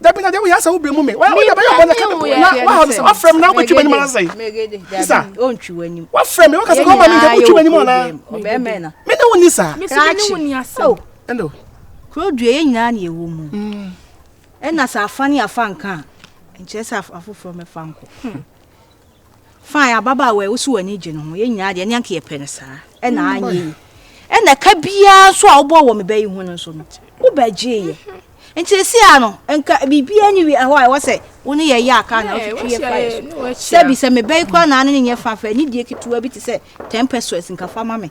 dabi na deɛ woyɛ asɛ wobrɛ mu me woda bɛyɛ bɔ na kata na waha no sɛ wafrɛ me na wobɛtwi m'anim ara sɛe isa wafrɛ me waka sɛ kɔma me nka wotwi m'anim anaa me ne wo ni saa ɛno kuro dua yɛ nyinaa ne ɛwɔ mu ɛna sɛ afa ne afa nka a nkyerɛ sɛ afoforɔ mɛfa nkɔ Fine, ababaawa a wosi w'ani gye no ho, yɛn nyinaa deɛ ne anka yɛpɛ no saa. Ɛna mm. anyɛ yi. Ɛna ka biara nso a wobɔ wɔ me bɛ yi ho no nso no, wobɛgyeeɛ. Nti esi a no, nka biribiara ni wi ɛhɔ a ɛwɔ sɛ wo ne yɛyɛ aka na wotwitwi yɛ kwan so. Sɛbi sɛ me bɛ yi koraa na ne nyɛ fa fɛ, ne die ketewa bi te sɛ ten pesos nka fa ma me.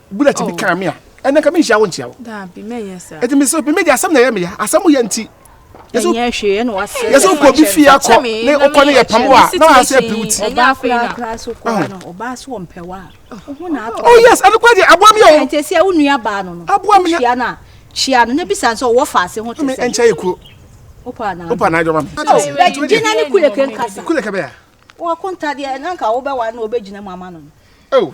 bullet bi oh. kan me a ɛnna nka menhyia wo nkyia wo ɛti me sɛ meme de asɛm na ɛyɛ meya asɛm yɛ nti yɛsɛ wokɔ bi fie akɔ ne wokɔ ne yɛpam wo a na waasɛ api wo ti oh yes ɛno kora deɛ aboa me o aboa me kyia no na bisa sɛ ɔwɔ faase ho te sɛ ɛnkyɛ yɛ kuro wopa na adwama me gyina ne kuleke nkasa kuleke bɛya wɔkontadeɛ nanka wobɛwa na ɔbɛgyina mu ama no no oh.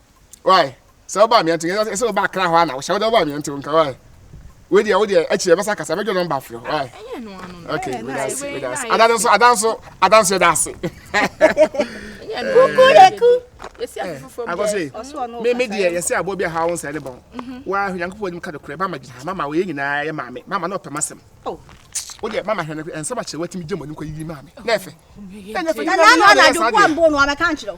wae sɛ woba amea nti ɛsɛ sɛ woba akra hɔ ana wohyɛ wode woba amea nti nka wae wei deɛ wodeɛ akyi yɛ bɛsa kasa bɛdwo nɔmba afrɛ wae ok wedase wedase ada no nso ada nso ada nso yɛda ase kukureku akɔse me me deɛ yɛsɛ aboɔ bi aha wo nsɛe ne bɔn waa nyankopɔn anim ka nokorɛ mama gyina ha mama wɔyɛ nyinaa yɛ maame mama na ɔpɛ masɛm wodeɛ mama hwɛ no ɛnsɛm akyerɛ watumi gya mu anim kɔ yiyi maame na ɛfɛ ɛnyɛ fɛ nyina nyina yɛ saa deɛ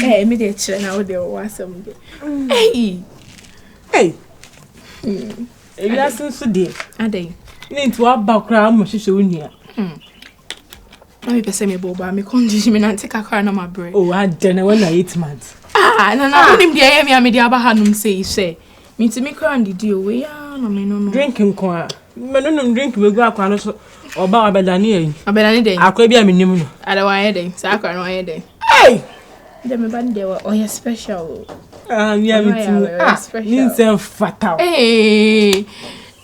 Hey, me dey chere na wo dey wo asem dey. Hey. Hey. Hmm. Ebi asen so dey. Adey. Ne nti wa ba kra mo hwehwe wo nua. Hmm. Na me pese me bo ba me condition me nante kakra na ma bre. Oh, adene when na 8 months. Ah, na na ah. unim dey yemi amedi aba hanum sei hwe. Mintumi koraa ndidi o, wei aa na me nonom. Drink nko aa. Me nonom drink begu akora no so, ɔba wabɛdane ayi. Ɔbɛdane dɛn? Akora bi a menim no. Ada wayɛ dɛn? Saa akora no wayɛ dɛn? Ei! Dɛ me ba no deɛ ɔyɛ special o. Ah, mi a metumi. Ah, ne nsɛm fata o. Ei!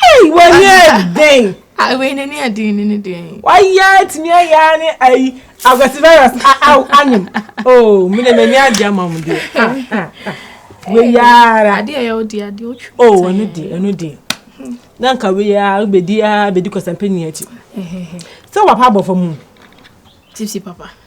Ei, wayɛ dɛn? Ah, wei ne ne ɛdin ne ne deɛ. Wayɛ tumi ayɛ ne ayi agwasi virus a a anyim. Oh, me de me ni adi ama mo deɛ. Ah, ah, ah. Wei yara. Adi ɛyɛ odi adi otwi. Oh, ɛno deɛ, ɛno deɛ. Na nka wei yara bedi a bedi kɔsɛmpɛ ni akyi. Sɛ wapa abɔfo mu. Tipsy papa.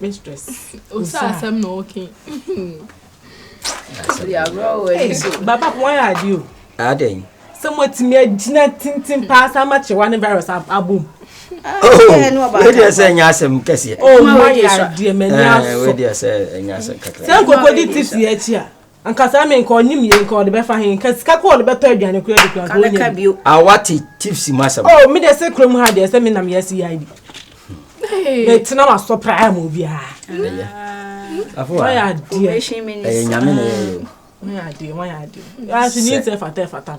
mistress. Osa asɛm na ɔke. Baba wɔn yɛ adi o. Adɛn. Sɛ mo atumi agyina tintin paa saa ma kyewa ne virus abom. Wadi ɛsɛ ɛnyɛ asɛm kɛseɛ. O ma yɛ adeɛ mɛ ni aso. Wadi ɛsɛ ɛnyɛ asɛm kakra. Sɛ nkokɔ di tips yɛ akyi a. Anka saa me nka ɔnim yie nka ɔde bɛfa he nka sika kɔ ɔde bɛtɔ aduane kura de kura nka ɔnya bi. Awa te tips mu asɛm. Oh me deɛ sɛ kurom ha deɛ sɛ me nam yɛ CID. Me tena ma sɔ paa ma obiara. Ɛyɛ. Afo a. Ɛyɛ nyame na ɛyɛ. Wɔyɛ adeɛ wɔyɛ adeɛ. Yɛ aso nyi nsɛ fata fata.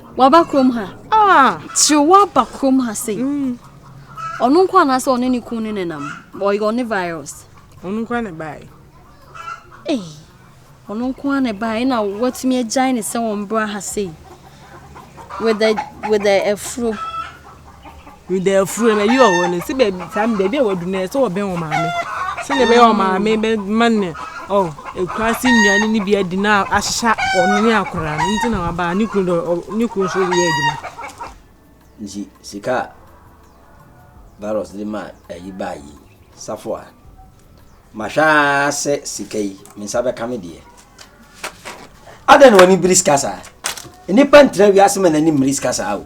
Waba kurom ha. Ah! Tiri waba kurom ha sei. Mm. Ɔno nko anaasɛ ɔne ne kun ne nenam. Ɔyɛ ɔne virus. Ɔno nko ana bae. Ei, ɔno nko ana bae na watumi agyae ne sɛ wɔn bra ha sei. With the with the afuro. meda afuro na yi ɔwɔ no sɛ baabi saa baabi a wadu no sɛ wɔbɛn wɔn maame sɛdeɛ ɛbɛyɛ wɔn maame bɛma ne ɔ ekura se nnuane no bi adi na ahyehyɛ wɔn ne akora no nti na waba ne kunu dɔ ne kunu nso yɛ adwuma. nti sika a virus de ma ayi baa yi safo a mahwɛ ara sɛ sika yi me nsa bɛka me deɛ adɛn na wɔn ani biri sika saa nnipa ntena wiase ma n'ani mmiri sika saa o.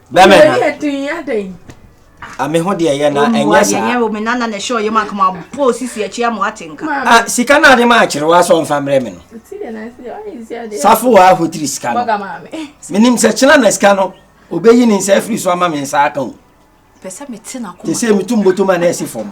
Bɛmɛ na. Yɛ den yɛ den. A me ho deɛ yɛ na ɛnyɛ saa. Ɛnyɛ omi nana na ɛhyɛ ɔyɛ mu akoma bɔ sisi akyi ama ate nka. Ah sika na ade ma akyere wa so nfa mbrɛ me no. Safo wa ho tiri sika no. Menim sɛ kyena na sika no obeyi ne nsa afiri so ama me nsa aka o. Pɛsɛ me te na koma. Te sɛ metum botoma na ɛsi fam.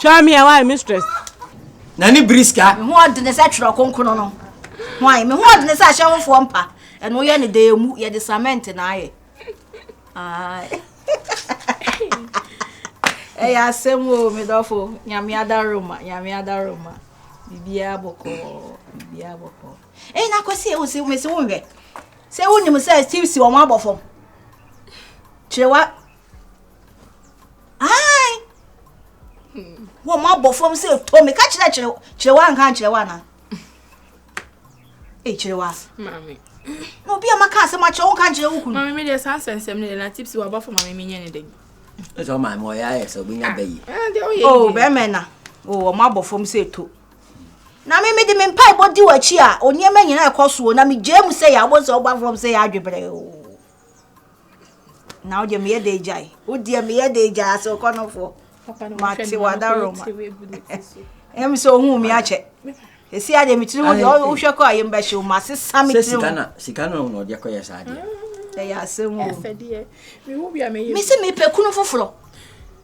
Twa me a why mistress. Na ne biri sika. Me ho ɔdene sɛ twerɛ konkono no. Why me ho ɔdene sɛ ahyɛ hofoɔ mpa. Ɛno yɛ ne dɛɛ mu yɛde cement na ayɛ. Ɛyɛ asɛm o me dɔfo nyame adaroma nyame adaroma biribiara bɔkɔɔ biribiara bɔkɔɔ. Ɛyi na kɔsi ewu si mesi wo nhwɛ. Sɛ wonim sɛ Steve si wɔn abɔ fam. Kyerɛ wa ae wɔ mo abɔ fam sɛ ɛtɔ me ka kyerɛ kyerɛ kyerɛ wa nka nkyerɛ wa na e kyerɛ wa maame na obi a maka asɛm akyerɛ wo nka nkyerɛ wo kunu maame deɛ saa nsɛnsɛm no deɛ na tipsi wɔ abɔfo maame menyɛ ne dɛn ɛsɛ wo maame ɔyɛ ayɛ sɛ wobɛnya ah, bɛ yi eh, o oh, bɛrima na o oh, ɔmo abɔ fam sɛ ɛtɔ na me mede me mpaebɔ di w'akyi a onneɛma nyinaa ɛkɔ soɔ na megyaa mu sɛ yɛ abɔ sɛ wobɔ fam sɛ yɛ adwebrɛ o oh. na wodeɛ meyɛ dɛ gyae wodeɛ meyɛ dɛ gyae ase wokɔ no foɔ mate wadaroma ɛm sɛ ohun mi akyɛ ɛsi adeɛ metiri mu deɛ wohwɛ kɔ a yɛmbɛhye wo ma sesa me tiri mu sika no na ɔde kɔyɛ saa deɛ ɛyɛ asɛm o mese mepɛ kunu foforɔ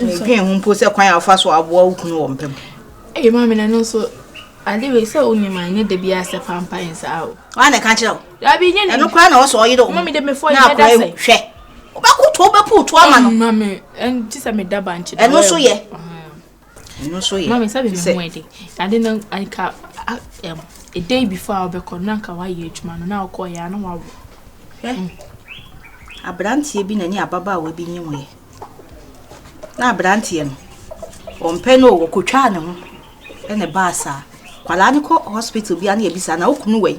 Medwen ho mpo sɛ kwan a wofa so aboa wo kunu wɔ mpa mu. Ɛyɛ maa me na ɛno nso ade wei sɛ wo nim a ɛnyɛ da biara sɛ fa mpa yɛn saa o. Wɔn a na ɛka kyerɛ wo. Dabi nyɛ ne. Ɛno koraa na ɔsɔ ɔyere wɔn. Mami de mefɔ yi mɛda sɛ. Hwɛ. Wobɛkoto wobɛpuutu ama no. Mami ɛn ti sɛ meda bankye da. Ɛno nso yɛ. Ɛno nso yɛ. Mami sɛbi mi ho ɛdi. Ade no nka ɛm a day before a ɔbɛkɔ no na nka wayɛ adwuma no na ɔkɔ yɛ a na wawo. Hwɛ. Abranteɛ bi na ne ababaawa bi nyim yɛ. Na abranteɛ no ɔmpɛ no o ɔkotwaa ne ho ɛna ɛbaa saa. Kwadaa no kɔ hospital bia na yɛbisa na okunu wɛn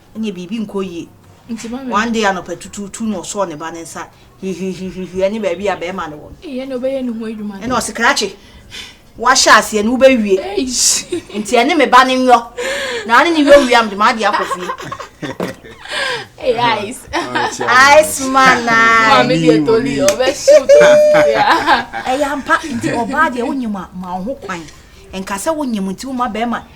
ɛnneɛ biribi nkɔ yie. One day anɔpa tutuutu na ɔsɔɔ ne ba ne nsa hwihwihwihwi ɛne baabi a bɛrima no wɔ no. Ɛna ɔse krakye wahyɛ aseɛ no wobɛwie nti ɛne me ba no nwɔ na ane ne wɔ wiam de maade akɔ fie Hey, Ice. Ice man. Mami de toli o be shoot. Eya mpa nti oba de wo nyima ma ho kwan. Enka se wo nyim nti wo ma be ma.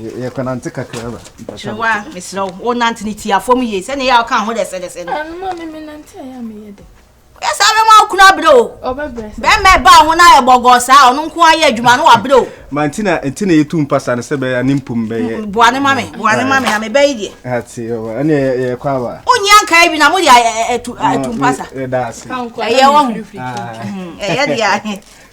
yɛkɔnante kakra ba kyerewa mesrɛ wo wonante ne tia fam yie sɛne yɛ a woka ho dɛsɛdɛsɛ no ɛnoma me menante a yɛ a meyɛ dɛ woyɛ saa bɛma wo kunu abrɛ o bɛma ɛbaa ho no ayɛ bɔgɔɔ saa ɔno nko ayɛ adwuma no wabrɛ o ma nti na nti na yɛtu mpasa no sɛ bɛyɛ ne mpom bɛyɛ mm, boa ne ma me boa ne ma me na mebɛyi deɛ ate ɔwa ɛne yɛkɔ aba wonyia nkae bi na mode atu mpasa ɛyɛ wɔ ho ɛyɛ deɛ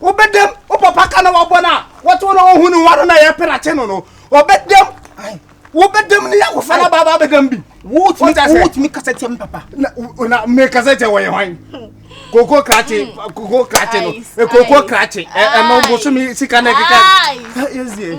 wobɛdam wo papa ka na wabɔ no a wɔtew na ɔhu ne ho ano na ɛyɛ perakye no no ɔbɛdam wobɛdam ne yɛakɔfa no baaba bɛdam bi wotumi kasa tia me papa na mekasa tia wɔyɛ hwan koko krakye koko krakye no koko krakye ɛno bosome sika na ɛkeka ɛsie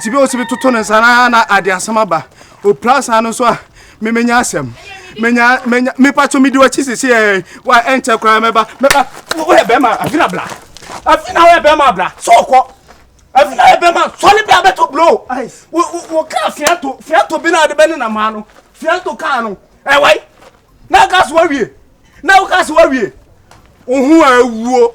Tibi a ɔtibi toto ne nsa na na ade asɛm aba ɔpira saa no nso a memenya asɛm menya menya mepa to medi wakyi sisi ɛ wa ɛnkyɛ koraa mɛba mɛba woyɛ bɛrima afina bla afina woyɛ bɛrima bla so ɔkɔ afina woyɛ bɛrima sɔre bla bɛto blow wo kaa fiato fiato bi na ade bɛne na maa no fiato kaa no ɛwai na aka so wawie na woka so wawie wo ho awuo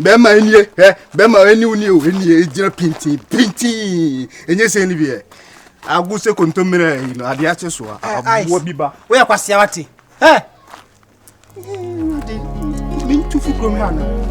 bɛrima nie hwɛ bɛrima ɛni wo nie o ɛni ɛgyina pintin pintin ɛnyɛ sɛ ɛni biɛ ago sɛ kontommerɛ yi no adeɛ akye so a aboa bi ba woyɛ kwasea wate ɛ mentu fo kurom ha no